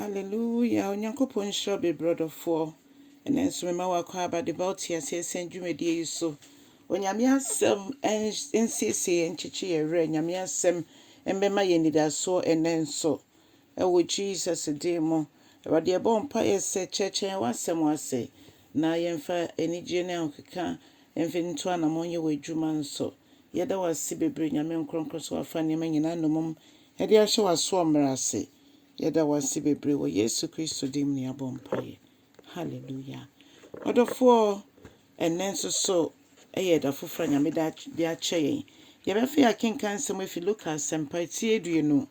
Hallelujah Onyankopɔn nhyira wo bebree ɔdɔfoɔ. Ɛnɛ nso mema wo akwaaba de ba wo te aseɛ sɛn dwumadie yi so. Onyame asɛm nsiesie yɛn nkyekye yɛn werɛ. Nyame asɛm mbɛma yɛn anidasoɔ ɛnɛ nso. Ɛwɔ Jesus din mu. Awurade yɛbɔ wo mpaeɛ sɛ kyerɛkyerɛ yɛn w'asɛm ase na yɛmfa anigyeɛ ne ahokeka mfa ntu anamɔn nyɛ w'adwuma nso. Yɛda wo ase bebree Nyame nkorɔnkorɔ sɛ wafa nneɛma nyinaa nomum Yɛde ahyɛ w'asoɔ mmara ase. Yɛda wo ase bebree wɔ Yesu Kristo din mu na yɛabɔ mpaeɛ. Hallelujah. Ɔdɔfoɔ, ɛnnɛ nso so ɛyɛ ɛda foforɔ a Nyame da de akyɛ yɛn. Yɛbɛfei akenkan nsɛm afi Luka asɛmpa ti aduonu,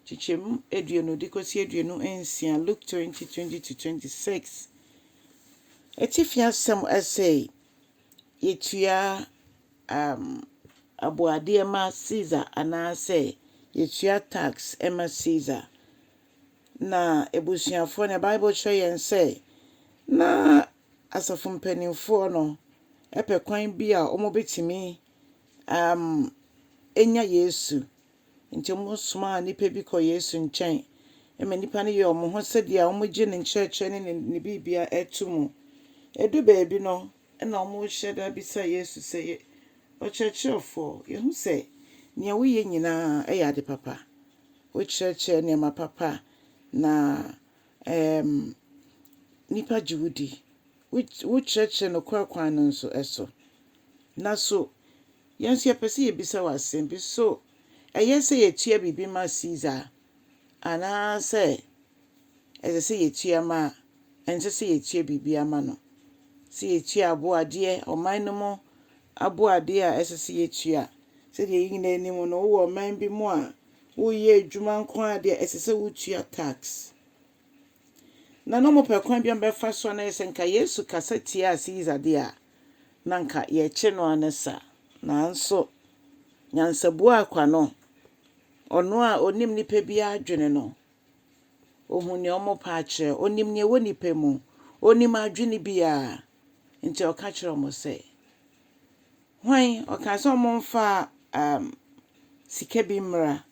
kyekyɛmu aduonu de kɔsi aduonu nsia, Luke 20, 20-26. Atifi asɛm ɛsei. yɛtua um aboadeɛ ma Caesar anaasɛ yɛtua tax ma Caesar. Na abusuafoɔ no, Bible kyerɛ yɛn sɛ na asafo mpanimfoɔ no pɛ kwan bi a wɔbɛtumi um anya Yesu. Enti wɔsomaa nnipa bi kɔɔ Yesu nkyɛn ma nnipa no yɛɛ wɔn ho sɛdeɛ wɔgye ne nkyerɛkyerɛ ne ne biribiara to mu. Ɛduu baabi no, na wɔrehyɛ da bisa Yesu sɛ, Ɔkyerɛkyerɛfoɔ, yɛahu sɛ deɛ woyɛ nyinaa yɛ ade papa. Wokyerɛkyerɛ nneɛma papa na nnipa gye wo di. Wokyerɛkyerɛ nokorɛ kwan no nso so. Na so Yɛn nso yɛpɛ sɛ yebisa wo asɛm bi. So ɛyɛ sɛ yetua biribi ma Kaesar, anaasɛ ɛsɛ sɛ yetua ma a ɛnsɛ sɛ yetua biribiara ma no? Sɛ yetua aboadeɛ, ɔman no mu aboadeɛ a ɛsɛ sɛ yetua. Sɛdeɛ yɛn nyinaa nim no, wowɔ ɔman bi mu a, woreyɛ adwuma nko ara deɛ, ɛsɛ sɛ wutua tax. Na na wɔpɛ kwan bi a wɔbɛfa so anayɛ sɛ nka Yesu kasa tiaa Caesar deɛ a, na nka yɛkye no ara ne saa. Nanso, nyansabuaa kwa no, ɔno a ɔnim nnipa biara adwene no, ɔhu nea wɔpɛ akyerɛ, ɔnim nea ɛwɔ nnipa mu, ɔnim adwene biara. Nti ɔka kyerɛ wɔn sɛ, Hwan? Ɔkaa sɛ wɔmfa um, sika bi mmra.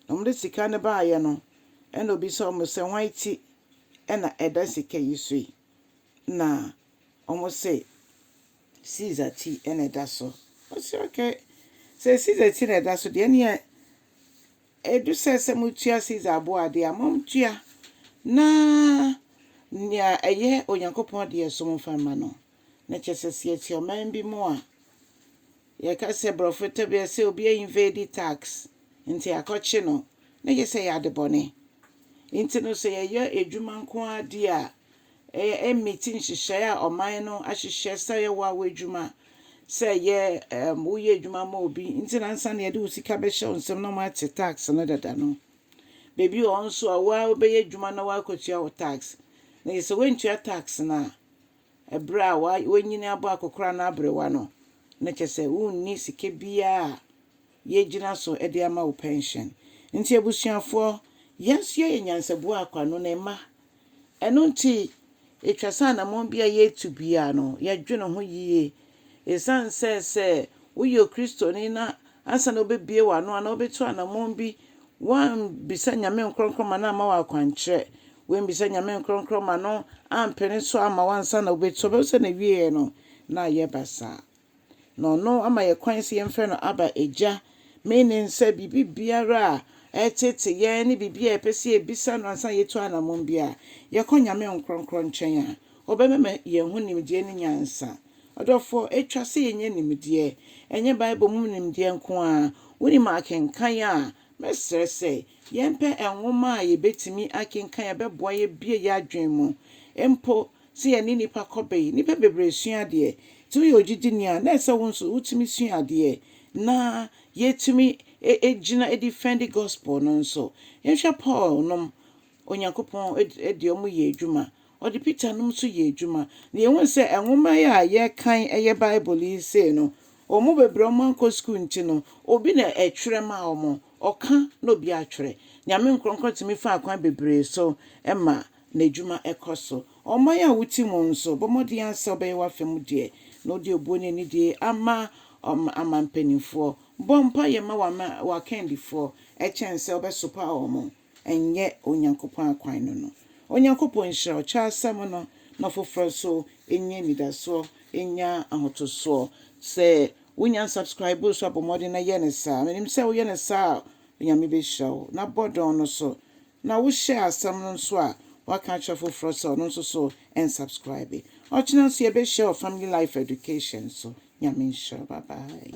na wɔde sika no baeɛ no, ɛna ɔbisa wɔn sɛ, hwan ti na ɛda sika yi so yi? Na wɔn se, Caesar ti na ɛda so. Ɔse, okay, sɛ Caesar ti na ɛda so deɛ, ɛneɛ ɛdu sɛ sɛ motua Caesar boɔ adeɛ a, montua na nea ɛyɛ Onyankopɔn deɛ nso momfa mma no. Na kyerɛ sɛ sɛ yɛte ɔman bi mu a, Yɛka sɛ brɔfo tebea sɛ obi a invade tax nti akɔkye no na gye sɛ ɛyɛ ade bɔne. Nti no sɛ yɛyɛ adwuma nko ara di a ɛmmiti nhyehyɛe a ɔman no ahyehyɛ sɛ yɛ waw adwuma sɛ yɛ ɛɛm woyɛ adwuma ma obi nti na ansa na yɛde wo sika bɛhyɛ wo nsam na wɔate tax no dada no. Baabi wɔ hɔ nso a wo ara wobɛyɛ adwuma na woakɔtua wo tax na gye sɛ woantua tax no a Ɛberɛ a w'anyini abɔ akɔkoraa no aberewa no, na kyerɛ sɛ wonni sika biara a yɛgyina so de ama wo pɛnhyen. Nti abusuafoɔ, yɛn nso yɛyɛ nyansabuo akwaa no ne mma. Ɛno nti, ɛtwa sɛ anammɔn biara a yɛretu biara no, yɛdwene ho yie Esiane sɛ sɛ woyɛ Okristoni na ansa na wobɛbue w'ano anaa wobɛtu anammɔn bi, woammisa Nyame nkorɔnkorɔ ma no amma wo akwankyerɛ, woammisa Nyame nkorɔnkorɔ ma no ampene so amma wo ansa na wobɛtu a, wobɛhu sɛ n'awieɛ no na ayɛ basaa. Na Ɔno ama yɛn kwan sɛ yɛmfrɛ no Abba, Agya. Meaning sɛ biribi biara a ɛreteete yɛn ne biribi a yɛpɛ sɛ yɛbisa no ansa na yɛtu anammɔn biara, yɛkɔ Nyame nkorɔnkorɔ nkyɛn a, Ɔbɛma yɛn ho nimdeɛ ne nyansa. Ɔdɔfoɔ, ɛtwa sɛ yɛnya nimdeɛ. Ɛnyɛ Bible mu nimdeɛ nko ara. Wonim akenkan a, mɛsrɛ sɛ yɛmpɛ nwoma a yɛbɛtumi akenkan a ɛbɛboa yɛabue yɛn adwene mu. Mpo sɛ yɛne nnipa kɔ bee, nnipa bebree sua adeɛ. Sɛ woyɛ ogyidini a, na ɛsɛ sɛ wo nso wotumi sua adeɛ na yɛatumi agyina adifɛnde Gospel no nso. Yɛnhwɛ Paul nom. Onyankopɔn de wɔn yɛ adwuma. Ɔde Peter nom nso yɛ adwuma. Na yɛhunu sɛ nwoma yi a yɛkan yɛ Bible yi sei no, wɔn bebree a wɔankɔ sukuu nti no, obi na ɛtwerɛ maa wɔn. Ɔka na obi atwerɛ. Nyame nkorɔkorɔ tumi fa akwan bebree so ma N'adwuma kɔ so. Ɔman a wote mu nso, bɔ mmɔden ara sɛ wobɛyɛ w'afa mu deɛ, na wode obuo ne anidie ama aman mpanimfoɔ. Bɔ mpaeɛ ma w'akandifoɔ kyɛn sɛ wobɛsopa wɔn. ɛnyɛ Onyankopɔn akwan no no. Onyankopɔn nhyira ɔkyerɛwasɛm no na foforɔ nso nya anidasoɔ, nya ahotosoɔ. Sɛ wonya nsubscribe nso a, bɔ mmɔden na yɛ no saa. Menim sɛ woyɛ no saa a, Onyame bɛhyira wo. Na bɔ dɔn no so. Na wo share asɛm no nso a, woaka akyerɛ foforɔ sɛ ɔno nso so nsubscribe. Ɔkyena nso yɛbɛhyia wɔ Family Life Education so. Nyame nhyira wo. Bye bye.